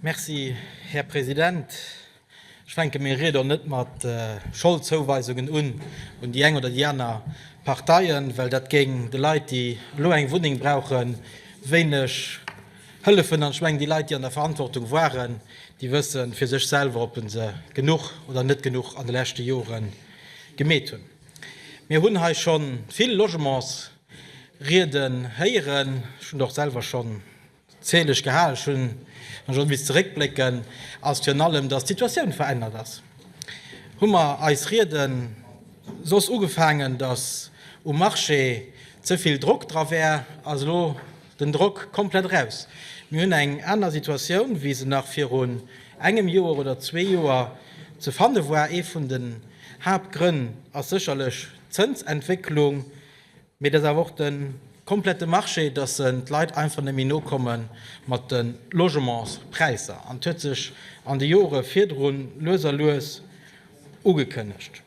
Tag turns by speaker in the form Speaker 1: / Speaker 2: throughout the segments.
Speaker 1: Merci, Här President. Ech fänke meng Ried och net mat Scholdzouweisungen un, un déi eng oder déi aner Parteien, well dat géing de Leit, déi elo eng Wunneng brauchen, wéineg hëllefen. An ech mengen, déi Leit, déi an der Verantwortung waren, déi wësse fir sech selwer, ob se genuch oder net genuch an de leschte Jore gemeet hunn. Mir hunn hei scho vill Logementsrieden héieren. Ech hunn och selwer schonn D'Zil, ech geha ech hunn ech och miss zeréckblécken, ass virun allem, dass d'Situatioun verännert ass. Hu mer eis Riede soss ugefaangen, dass um Marché ze vill Drock dra wär, ass elo den Drock komplett eraus. Mir hunn eng aner Situatioun, wéi se nach virun engem Joer oder zwee Joer ze fanne war. Ee vun den Haaptgrënn ass sécherlech d'Zënsentwécklung, Mee et ass awer och de komplette Marché, dass d'Leit einfach net méi nokommen mat de Logementspräisser. An et huet sech an de Jore virdrun lues a lues ugekënnegt.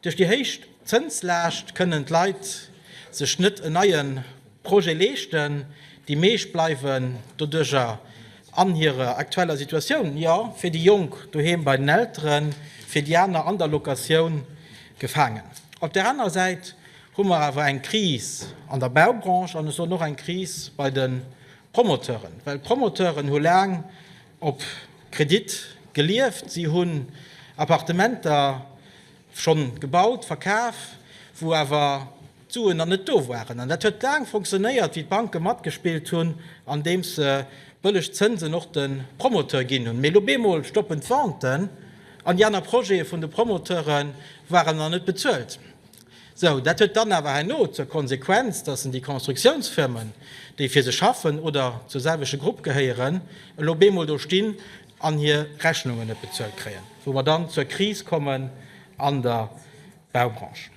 Speaker 1: Duerch déi héich Zënslaascht kënnen d'Leit sech net en neie Projet leeschten. Déi meescht bleiwen doduercher an hirer aktueller Situatioun, jo, fir déi Jonk doheem bei den Elteren, fir déi aner an der Locatioun gefaangen. Op där aner Säit hu mer awer eng Kris an der Baubranche an ech soen och eng Kris bei de Promoteuren, well d'Promoteuren hu laang op Kredit gelieft. Si hunn Appartementer schonn gebaut, verkaf, wou awer d'Suen nach net do waren. An dat huet laang funktionéiert, wéi d'Banke matgespillt hunn, andeems se bëlleg Zënsen och de Promoteur ginn hunn. Mee elo bemol stoppen d'Venten an déi aner Projete vun de Promoteure waren nach net bezuelt. Sou, dat huet dann awer herno zur Konsequenz, dass en déi Konstruktionsfirmen, déi fir se schaffen oder zur selwechte Grupp gehéieren, elo bemol do stinn an hir Rechnungen net bezuelt kréien, wou mer dann zur Kris kommen an der Baubranche.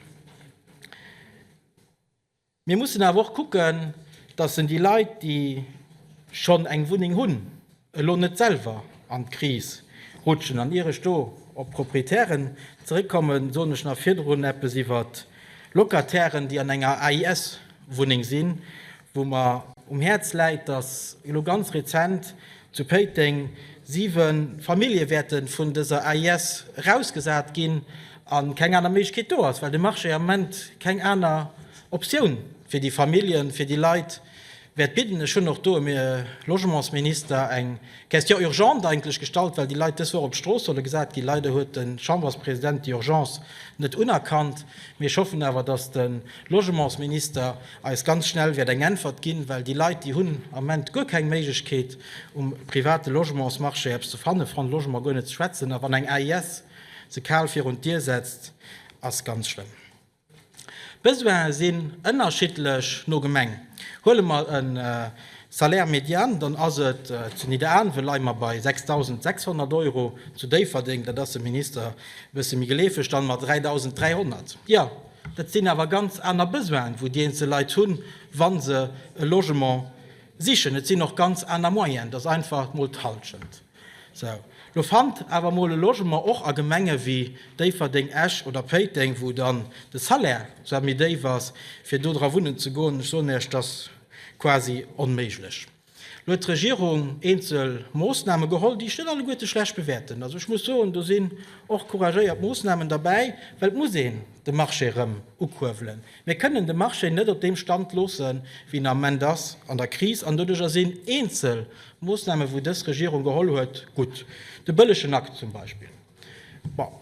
Speaker 1: Mir mussen awer och kucken, dass en déi Leit, déi schonn eng Wunneng hunn, elo net selwer an d'Kris rutschen. An ier ech do op d'Proprietären zeréckkommen, soen ech nach virdrun eppes iwwer d'Locatairen, déi an enger AIS-Wunneng sinn, wou mer um Häerz läit, dass elo ganz rezent, Zu Péiteng, Siwe Famillje wäerte vun dëser AIS erausgesat ginn a keng aner Méiglechkeet do ass, well de Marché am Moment keng aner Optioun fir déi Familljen, fir déi Leit wäert bidden. Ech hunn och do um Logementsminister eng Question urgente eigentlech gestallt, well déi Leit dës Woch op d'Strooss solle gesat ginn. Leider huet de Chamberspresident déi Urgence net unerkannt. Mee ech hoffen awer, datt de Logementsminister, eis ganz schnell wäert eng Äntwert ginn, well déi Leit, déi hunn am Moment guer keng Méiglechkeet um private Logementsmarché eppes ze fannen, Fonds de Logement guer net ze schwätzen, a wann eng AIS se kal virun d'Dier setzt, ass ganz schlëmm. D'Besoine sinn ënnerschiddlech no Gemeng. Huele mer e Salaire médiane, dann ass et zu Nidderaanwen, leie mer bei 6.600 Euro, zu Déifferdeng, dat ass dem Minister e bësse méi geleefeg, dann mat 3.300, jo. Dat sinn awer ganz aner Besoinen, wou déi eenzel Leit hunn, wa se e Logement sichen. Et sinn och ganz aner Moyenen. Dat ass einfach mol d'Hallschent. Sou, lo fannt awer mol e Logement och a Gemenge wéi Déifferdeng, Esch oder Péiteng, wou dann de Salaire zwar méi déif ass, fir do dra wunnen ze goen, ech soen Iech, dat ass quasi onméiglech. Elo huet d'Regierung eenzel Moosname geholl, déi ech net alleguerte schlecht bewäerten. Also ech muss soen, do sinn och couragéiert Moosnamen derbäi, well et muss een de Marché erëm ukuerwelen. Mir kënnen de Marché net op deem Stand loosse wéi en am Moment ass, an der Kris. An doduercher sinn eenzel Moosname wou dës Regierung geholl huet, gutt. De bëllegen Akt zum Beispill.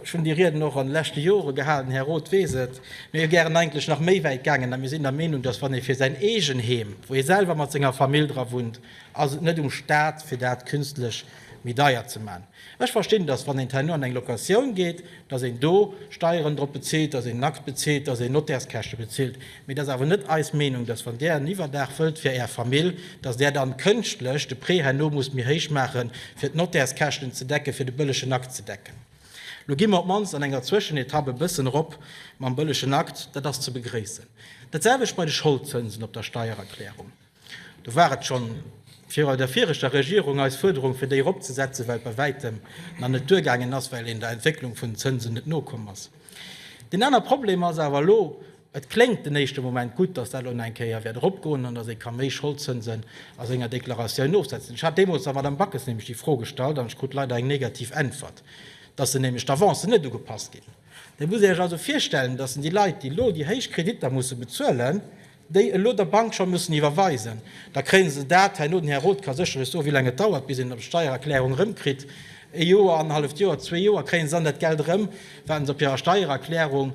Speaker 1: Ech hunn déi Rieden och an de leschte Jore gehalen, Här Roth weess et. Mir wier gären eigentlech nach méi wäit gaangen, a mir sinn der Meenung, datt wann ee fir säin eegen Heem, wou ee selwer mat senger Famill dra wunnt, ass et net um Staat fir dat künstlech méi deier ze maachen. Ech verstinn, datt wann een d'Haino an eng Locatioun geet, datt een do Steieren drop bezilt, datt een Nakt bezilt, datt een Notairskäschte bezilt. Mee et ass awer net eis Meenung, dass wann Där en Iwwerdaach wëllt fir Är Famill, dass Där dann kënschtlech de Prêt herno musst méi héich maachen, fir d'Notärskäschten ze decken, fir de bëllegen Akt ze decken. Lo gi mer op d'mannst an enger Zwëschenetapp e bëssen erop mam bëllegen Akt. Dat ass ze begréissen. Dat selwecht bei de Scholdzënsen op der Steiererklärung. Do war et schonn virau der viregter Regierung eis Fuerderung, fir déi eropzesetzen, well et bei Wäitem nach net duergaangen ass, well een der Entwécklung vun den Zënsen net nokomm ass. Deen aner Problem ass awer elo, Et kléngt den éischte Moment gutt, dass dat elo nach eng Kéier wäert eropgoen an dass ee ka méi Scholdzënsen a senger Deklaratioun ofsetzen. Ech hat deemools der Madame Backes nämlech déi Fro gestallt an ech krut leider eng negativ Äntwert, dass se nämlech d'Avancen net ugepasst ginn. Da musst Dir Iech also virstellen, dass déi Leit, déi elo déi héich Kreditter musse bezuelen, déi elo der Bank scho mussen iwwerweisen, da kréie se dat herno, den Här Roth ka sécher iech soen, wéi laang et dauert, bis een d'Steiererklärung erëmkritt, e Joer, annerhalleft Joer, zwee Joer, kréie se dann dat Geld erëm, wat se op hirer Steiererklärung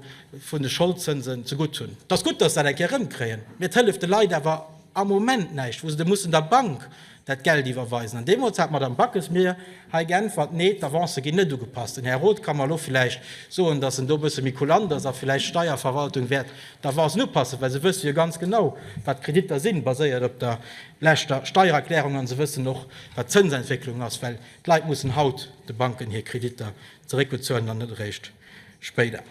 Speaker 1: vun de Scholdzënsen zegutt hunn. Et ass gutt, datt se dat eng Kéier erëmkréien, mee et hëlleft de Leit awer am Moment näischt, wou se da mussen der Bank dat Geld iwwerweisen. An deemools hat d'Madame Backes mir hei geäntwert, Nee, d'Avancë ginn net ugepasst. Den Här Roth ka mer elo vläicht soen, datt en do e bësse méi kulant ass a vläicht d'Steierverwaltung wäert d'Avancen upassen, well se wësse jo ganz genau, wat d'Kreditter sinn, baséiert op der leschter Steiererklärung, a se wëssen och, wat d'Zënsentwécklung ass, well d'Leit mussen haut de Banken hir Kreditter zeréckbezuelen an net eréischt spéider.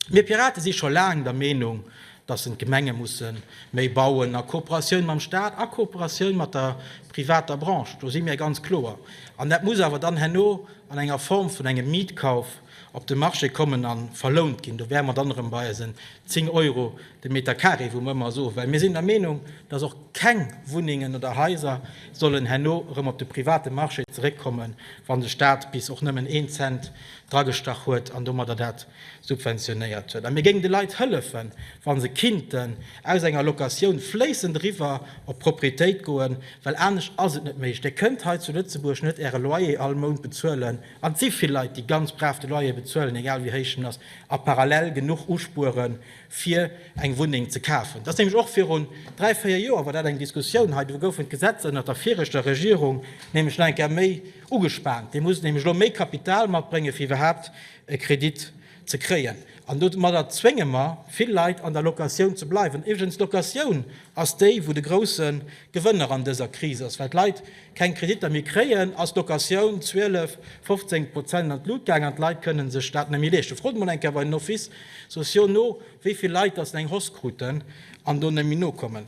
Speaker 1: Mir Pirate si scho laang der Meenung, dass en d'Gemenge musse méi bauen, a Kooperatioun mam Stat, a Kooperatioun mat der privater Branche. Do si mir ganz kloer. An dat muss awer dann herno an enger Form vun engem Mietkauf op de Marché kommen a verlount ginn. Do wäre mer dann erëm bei eisen 10 Euro de Meter carré, wou mer ëmmer soen, well mir sinn der Meenung, dass och keng Wunnengen oder Haiser sollen herno erëm op de private Marché zeréckkommen, wa de Stat bis och nëmmen een Cent dragestach huet an domadder dat subventionéiert huet. A mir géingen de Leit hëllefen, wa se kinnten aus enger Locatioun fléissend eriwwer op d'Propriétéit goen, well anescht ass et net méiglech. Dir kënnt hei zu Lëtzebuerg net Äre Loyer all Mount bezuelen, an et si vill Leit, déi ganz brav de Loyer bezuelen, egal wéi héich en ass, a parallel genuch uspueren, fir eng Wunneng ze kafen. Dat ass nämlech och virun dräi, véier Joer war dat eng Diskussioun hei, do goufen d'Gesetzer ënnert der viregter Regierung nämlech nach eng Kéier méi, Ugespaant. Dir musst nämlech elo méi Kapital matbréngen, fir iwwerhaapt e Kredit ze kréien. An domadder zwénge mer vill Leit an der Locatioun ze bleiwen. Iwwregens, d'Locatioun ass déi, wou de grousse Gewënner an dëser Kris ass. Well d'Leit keng Kreditter méi kréien, ass d'Locatioun 12, 15 Prozent an d'Lut gaangen an d'Leit kënnen sech dat net méi leeschten. Frot emol eng Kéier bei den Offices sociaux no, wéi vill Leit datt se eng Hoss kruten an do net méi nokommen.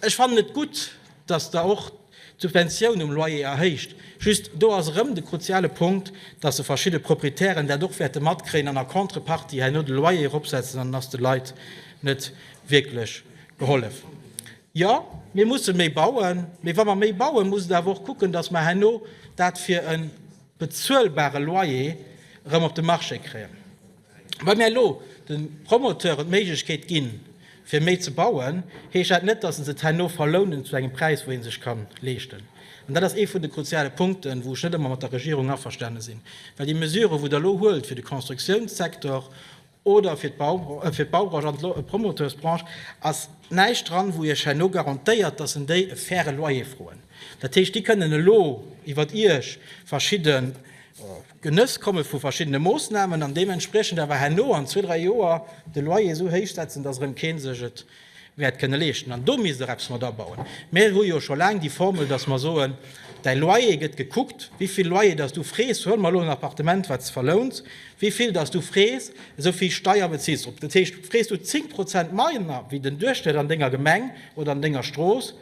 Speaker 1: Ech fannen et gutt, datt Der och. D'Subventioun um Loyer erhéicht. Just do ass erëm de kruziale Punkt, dass e verschidde Proprietären dat och wäerte matkréien an a Contrepartie herno de Loyer eropsetzen an dann ass de Leit net wierklech gehollef. Jo, mir musse méi bauen, mee wa mer méi bauen, muss et awer och kucken, dass mer herno dat fir e bezuelbare Loyer erëm op de Marché kréien. Wa mir elo de Promoteuren d'Méiglechkeet ginn, fir méi ze bauen, heescht dat net, dass se et herno verlounen zu engem Präis, wou ee sech ka leeschten. An dat ass ee vun de kruziale Punkten, wou ech net ëmmer mat der Regierung averstane sinn, well déi Mesuren, wou Der elo huelt fir de Constructiounssektor oder fir d'Baubranche an d'Promoteursbranche, ass näischt dran, wou Iech herno garantéiert, dass en déi e faire Loyer froen. Dat heescht, déi kënnen elo iwwer Iech verschidde Genëss komme vu verschiddene Moossnamen an deementspriechend awer herno an zwee, dräi Joer de Loyer esou héich setzen, dass erëm kee sech et wäert kënne leeschten. An do misst och eppes mat abauen. Mir hu jo scho laang déi Formel, dass mer soen, däi Loyer gëtt gekuckt, wéi vill Loyer dass du frees, huele mer elo en Appartement, wat s verlouns, wéi vill dass du frees, esou vill Steier beziils drop. Dat heescht, frees du 10 Prozent manner wéi den Duerchschnëtt an denger Gemeng oder an denger Strooss,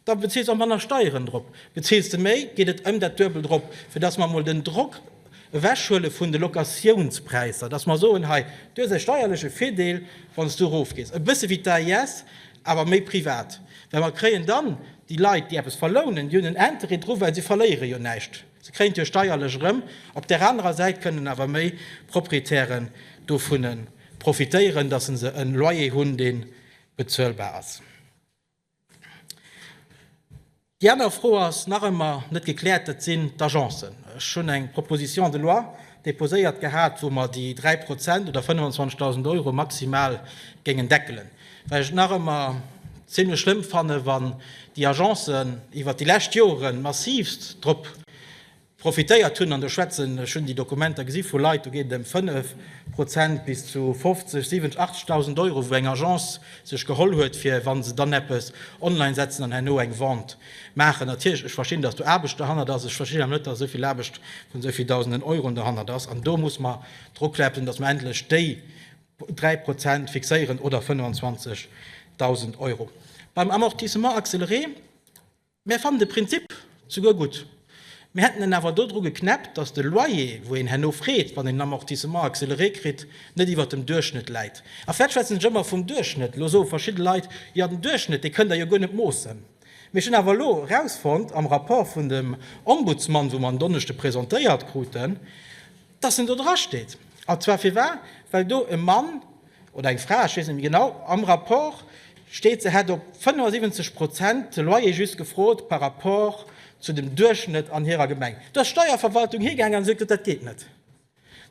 Speaker 1: Da bezuels och manner Steieren drop. Bezuels de méi, geet et ëm dat Duebelt erop, fir dass mer emol den Drock ewechhuele vun de Locatiounspräisser, dass mer soen, hei, du hues e steierleche Virdeel, wann s du erofgees, e bësse wéi d'AIS, awer méi privat. Well mer kréien dann déi Leit, déi eppes verlounen, déi hunn en Interêt dru well se verléiere jo näischt, se kréien et jo steierlech erëm. Op där anerer Säit kënnen awer méi Proprietären dovun profitéieren, dass se e Loyer hunn, dee bezuelbar ass. Déi aner Fro ass nach ëmmer net gekläert, dat sinn d'Agencen. Ech hunn eng Proposition de loi deposéiert gehat, wou mer déi 3 Prozent oder 25.000 Euro maximal géingen deckelen, well ech et nach ëmmer zimlech schlëmm fannen, wann déi Agencen iwwert déi lescht Joren massivst drop Profitéiert hunn, an do schwätzen ech, hunn déi Dokumenter gesi vu Leit, do geet et ëm 5 Prozent bis zu 50, 70, 80.000 Euro, wou eng Agence sech geholl huet, fir wa se dann eppes online setzen an herno eng Vente maachen. Natierlech, ech verstinn, datt do Aarbecht derhannert ass, ech verstinn awer net, datt esou vill Aarbecht vun esou vill Dausenden Euroen derhannert ass. An do muss mer drukläpsen, datt mer endlech déi 3 Prozent fixéieren oder 25.000 Euro. Beim Amortissement accéléré, Mär fannen de Prinzip souguer gutt. Mir hätten en awer do dru geknäppt, dass de Loyer, wou een herno freet, wann een en Amortissement accéléré kritt, net iwwert dem Duerchschnëtt läit. A vlät schwätzen ech ëmmer vum Duerchschnëtt. Lo soe verschidde Leit, Jo, den Duerchschnëtt, dee kënnt Der jo guer net moossen. Mee ech hunn awer elo erausfonnt am Rapport vun dem Ombudsman, wou mer en Donneschde presentéiert kruten, dass en do drasteet. A zwar firwat? Well do e Mann, oder eng Fra, ech weess net méi genau, am Rapport steet, se hätt op 75 Prozent de Loyer just gefrot par rapport zu dem Duerchschnëtt an hirer Gemeng. Do ass d'Steierverwaltung higaangen an huet gesot, dat geet net.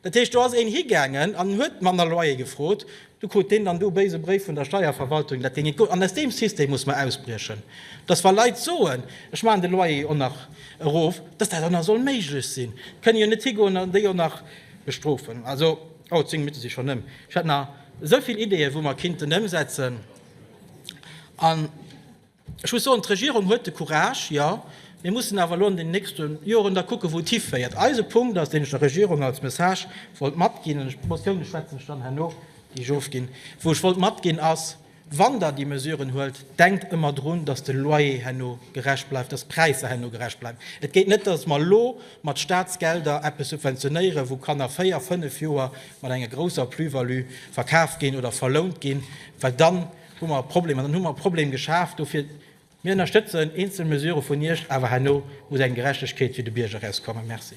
Speaker 1: Dat heescht, do ass een higaangen an huet manner Loyer gefrot, du krut deen dann do béise Bréif vun der Steierverwaltung, dat deen net goung. An aus deem System muss mer ausbriechen, dass wa Leit soen, ech maachen de Loyer och nach erof, dass dat och nach soll méiglech sinn. Et kënne jo net higoen an déi och nach bestrofen. Oh, zéng Minutte si schonn ëm. Ech hätt nach esou vill Ideeën, wou mer kinnten ëmsetzen. An ech muss soen, d'Regierung huet de Courage, jo. Mir mussen awer elo an den nächste Joren da kucken, wou et hiféiert. Eise Punkt ass, deen ech der Regierung als Message wollt matginn, an d'Motioune schwätzen ech dann herno, déi ech ofginn, wou ech wollt matginn, ass, Wann Der déi Mesuren huelt, denkt ëmmer drun, dass de Loyer herno gerecht bleift, dass d'Präisser herno gerecht bleiwen. Et geet net, dass mer elo mat Statsgelder eppes subventionéieren, wou Kanner véier, fënnf Joer mat enger grousser Plus-value verkaf ginn oder verlount ginn, well dann hu mer e Problem. An dann hu mer e Problem geschaf. Dofir, Mir ënnerstëtzen eenzel Mesure vun Iech, awer herno muss eng Gerechtegkeet fir de Bierger erauskommen. Merci.